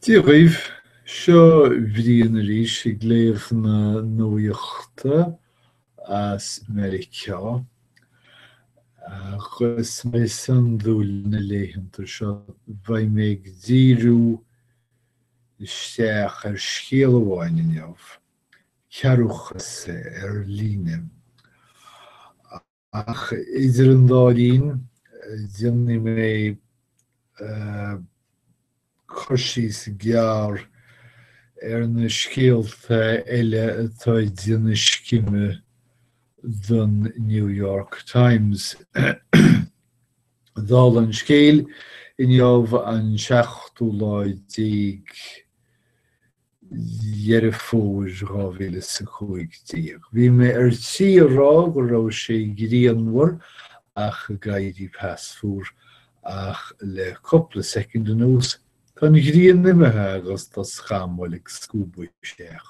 Dia dhaoibh, seo Brian arís ag léamh na nuaíochta as Meiriceá. Agus mar is iondúil na laethanta seo, beidh mé ag díriú isteach ar scéal amháin inniu, cearrbhachas ar líne. Ach idir an dá linn, déanfaidh mé cur síos gearr ar na scéalta eile atá ag déanamh scime don New York Times. Dála an scéil, inniu an seachtú lá déag Dheireadh Fómhair 2015. Bhí mé ar tí a rá go raibh sé grianmhar ach ag éirí pas fuar, ach le cúpla soicind anuas, tá an ghrian imithe agus tá scamaill ag scuabadh isteach.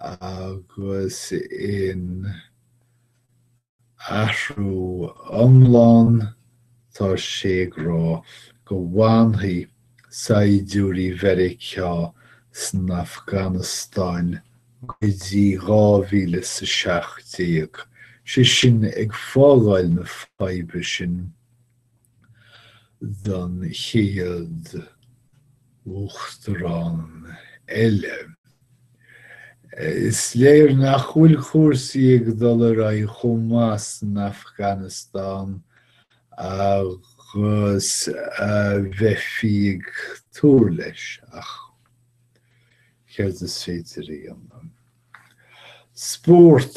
agus in athrú iomlán tá sé ag rá go bhfanfaidh saighdiúirí Mheiriceá san Afganastáin go dtí 2017, sé sin ag fágáil na faidhbe sin. don chéad Uachtarán eile. Is léir nach bhfuil cúrsaí ag dul ar aghaidh chomh maith san Afganastáin agus a bheifí ag tnúth leis, ach céard is féidir a dhéanamh? Spórt.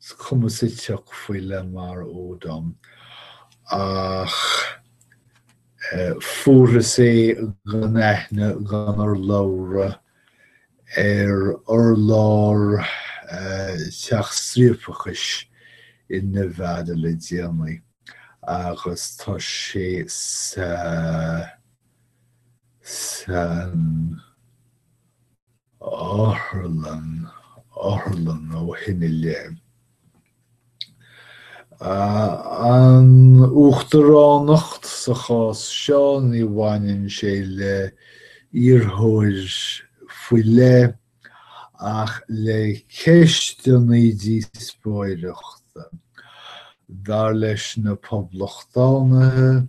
is cuma sa tsioc faoi Lamar Odom ach fuarthas é gan aithne gan urlabhra ar urlár teach striapachais i Nevada le déanaí agus tá sé sa san otharlann, otharlann ó shin i leith. An uachtaránacht sa chás seo, ní bhaineann sé le iarrthóir faoi leith ach le ceisteanna díospóireachta, dar leis na poblachtánaithe,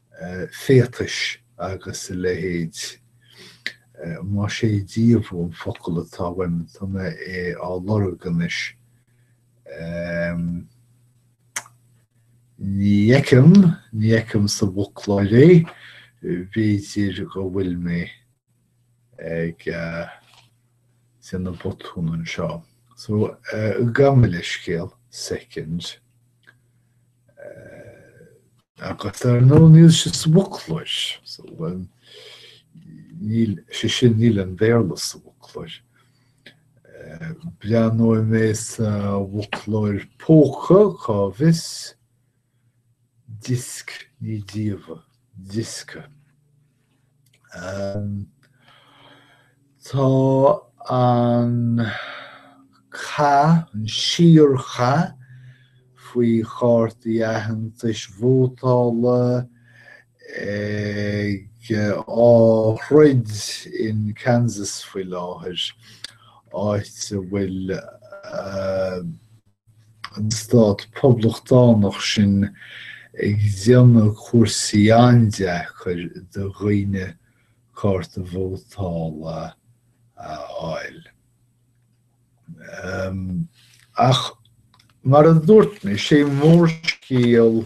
féatais agus a leithéid. Más é díobhadh an focal atá uaim, tá mé á lorg anois, ní fheicim, ní fheicim sa bhfoclóir é, b'fhéidir go bhfuil mé. ag déanamh botúin anseo. So, gabh mo leithscéal soicind agus ar ndóigh níl sé sa bhfoclóir. So, sé sin níl aon Bhéarla sa bhfoclóir. Breathnóidh mé sa bhfoclóir póca, cá bhfios, disc ní díobhadh, diosca. Tá an cath, an síorchath faoi chártaí aitheantais vótála ag á throid in Kansas faoi láthair, áit a bhfuil an stát poblachtánach sin ag déanamh cúrsaí an-deacair do dhaoine cárta vótála a fháil. Ach mar a dúirt mé, sé mórscéal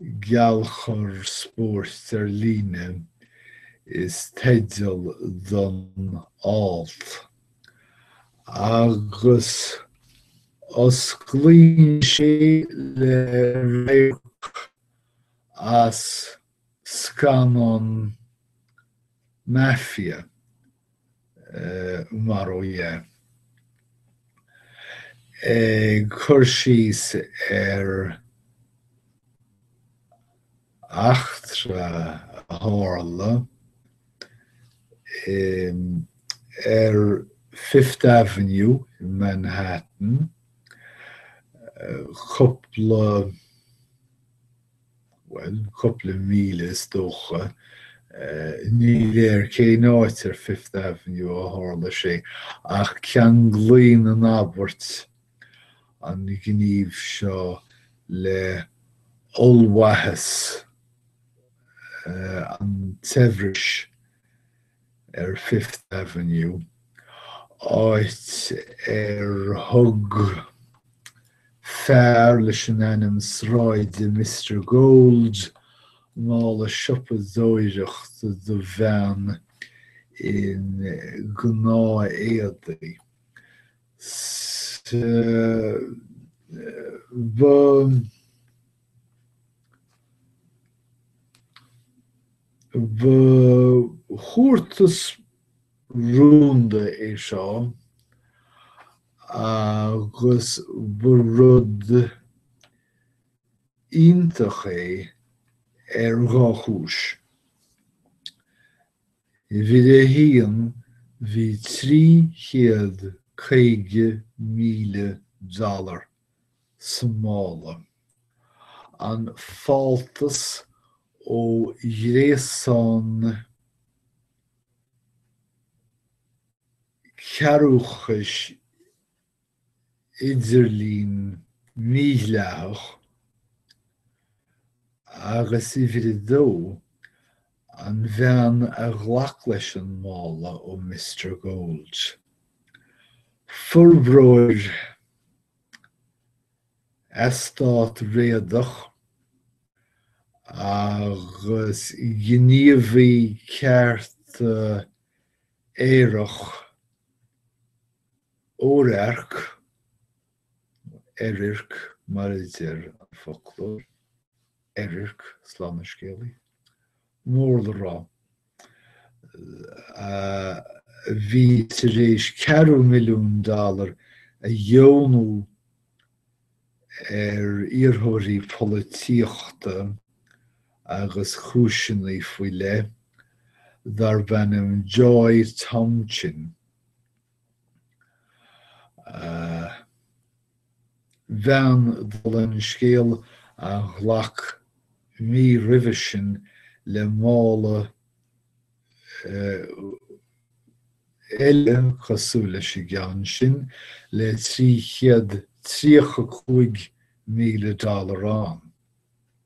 'Geallchur Spóirt ar Líne' is teideal don alt, agus osclaíonn sé le radharc as scannán Mafia mar ó dhea, ag cur síos ar eachtra a tharla ar Fifth Avenue in Manhattan cúpla. bhuel, cúpla míle is dócha. Ní léir cén áit ar Fifth Avenue a tharla sé, ach ceanglaíonn an abairt an gníomh seo le hollmhaitheas an tsaibhris. ar Fifth Avenue, áit ar thug fear leis an ainm sráide Mister Gold mála siopadóireachta do bhean i ngnáth-éadaí. Sea, ba. Ba thabhartas rúnda é seo agus ba rud iontach é ar dhá chúis. Uimhir a haon bhí 350,000 dollar sa mála. An fáltas ó ghréasán cearrbhachais idirlín mídhleathach agus uimhir a dó An bhean a ghlac leis an mála ó Mister Gold. Forbróir eastát réadach agus gníomhaí cearta aerach Oirirc, Oirirc mar a deir an foclóir, Oirirc, slán an scéalaí. mór le rá, a bhí tar éis ceathrú milliún dollar a dheonú ar iarrthóirí polaitíochta agus chúiseanna faoi leith, darbh ainm Joy Tomchin. bhean dul an scéal a ghlac mí roimhe sin le mála eile cosúil leis an gceann sin le 335,000 dollar ann.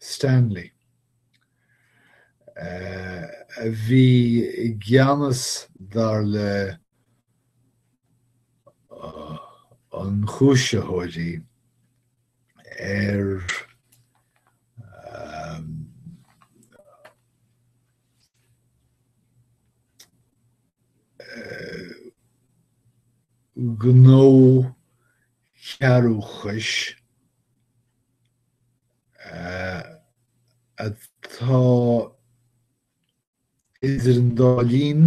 Stanley, a bhí i gceannas, dar le hionchúisitheoirí, ar ghnó cearrbhachais. atá idir an dá linn,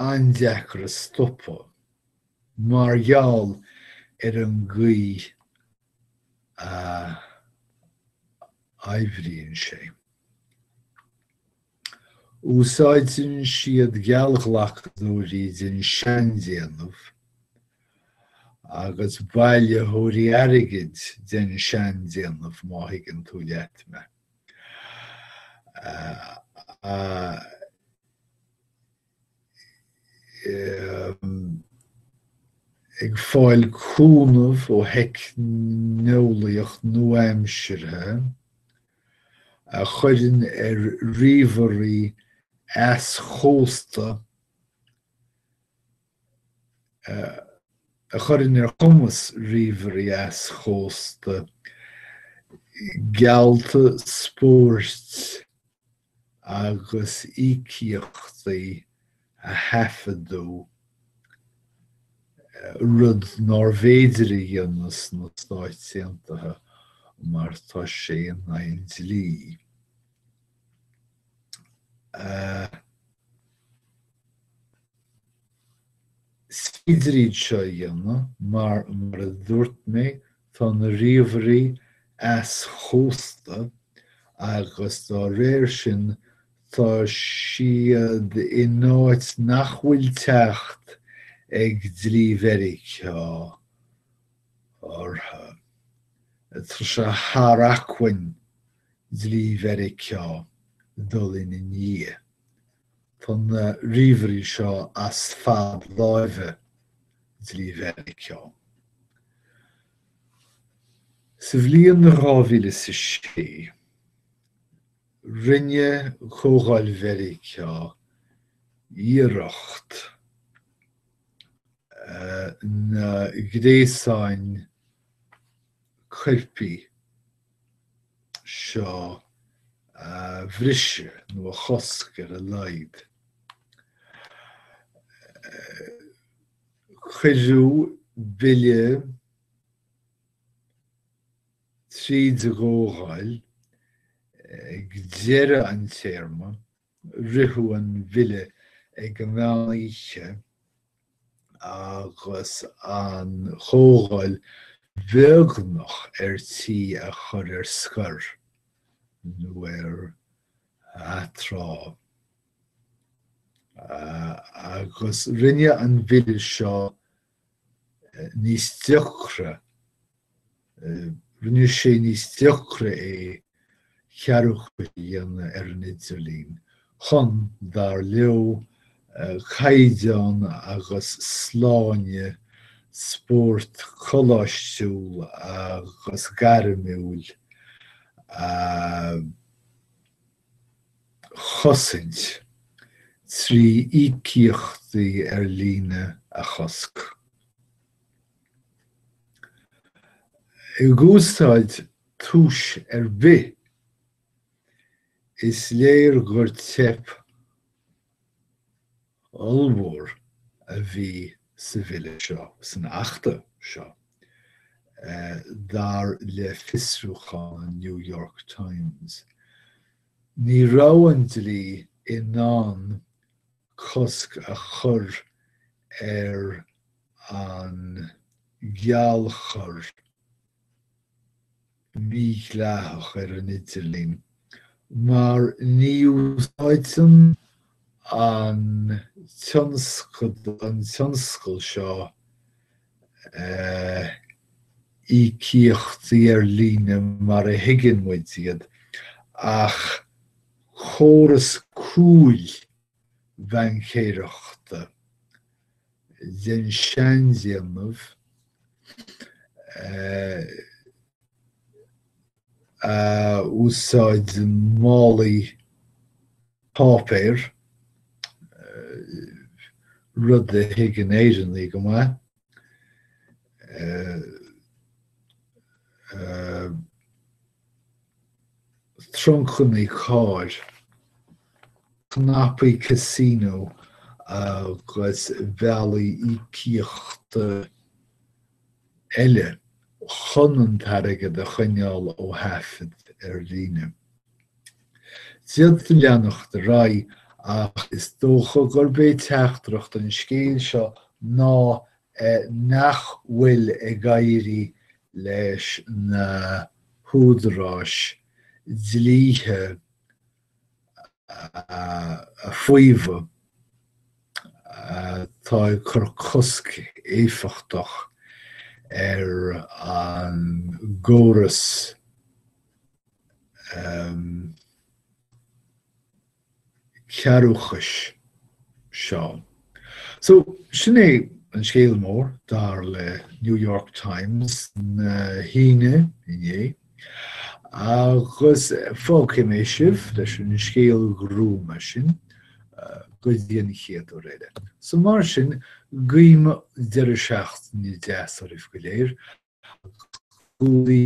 an-deacair a stopadh mar gheall ar an gcaoi a oibríonn sé. Úsáideann siad geallghlacadóirí den seandéanamh agus bailitheoirí airgid den seandéanamh, má thuigeann tú leat mé. Ag fáil cúnamh ó theicneolaíocht nua-aimseartha. a chuireann ar ríomhairí easchósta a chuireann ar chumas ríomhairí easchósta geallta spóirt agus íocaíochtaí a thaifeadadh, rud nárbh fhéidir a dhéanamh sna Stáit Aontaithe mar tá sé in aghaidh an dlí. Is féidir iad seo a dhéanamh mar, mar a dúirt mé, tá na ríomhairí easchósta agus dá réir sin tá siad in áit nach bhfuil teacht ag dlí Mheiriceá orthu. Tá sé thar acmhainn dlí Mheiriceá dul ina ndiaidh Tá na ríomhairí seo as fad láimhe dlí Mheiriceá. Sa bhliain 2006, rinne Comhdháil Mheiriceá iarracht na gréasáin coirpigh seo a bhriseadh nó a chosc ar a laghad. Cuireadh bille tríd an gComhdháil ag deireadh an téarma Ritheadh an bhille ag an mheán oíche agus an Chomhdháil beagnach ar tí a chur ar scor, nó ar atráth, agus rinne an bhille seo níos deacra, rinne sé níos deacra é cearrbhachas a dhéanamh ar an idirlíon chun, dar leo, caighdeán agus sláine spóirt coláistiúil agus gairmiúil a. chosaint, trí íocaíochtaí ar líne a chosc. I gcéad túis ar bith, is léir gur teip ollmhór a bhí sa Bhille seo, san Achta seo, dar le fiosrúchán an New York Times. Ní raibh an dlí in ann cosc a chur ar an geallchur. mídhleathach ar an idirlíon mar ní úsáideann an tionscadal an tionscal seo íocaíochtaí ar líne mar a thuigeann muid iad, ach córas cúil bhaincéireachta den seandéanamh a úsáideann málaí páipéir, rud a thuigeann Éireannaigh go maith, truncanna cairr, cnapaí Casino agus bealaí íocaíochta eile chun an t-airgead a choinneáil ó thaifead ar líne. D'fhéadfaí leanacht ar aghaidh ach is dócha gurb é teachtaireacht an scéil seo ná nach bhfuil ag éirí leis na húdaráis dlíthe a fhaomhadh atá ag cur cosc éifeachtach ar an gcóras cearrbhachais seo. So, sin é an scéal mór, dar le New York Times na hAoine inné. Agus fágfaidh mé sibh leis an scéal gruama sin go dtí an chéad uair eile. So mar sin, guím deireadh seachtaine deas oraibh go léir agus go luí.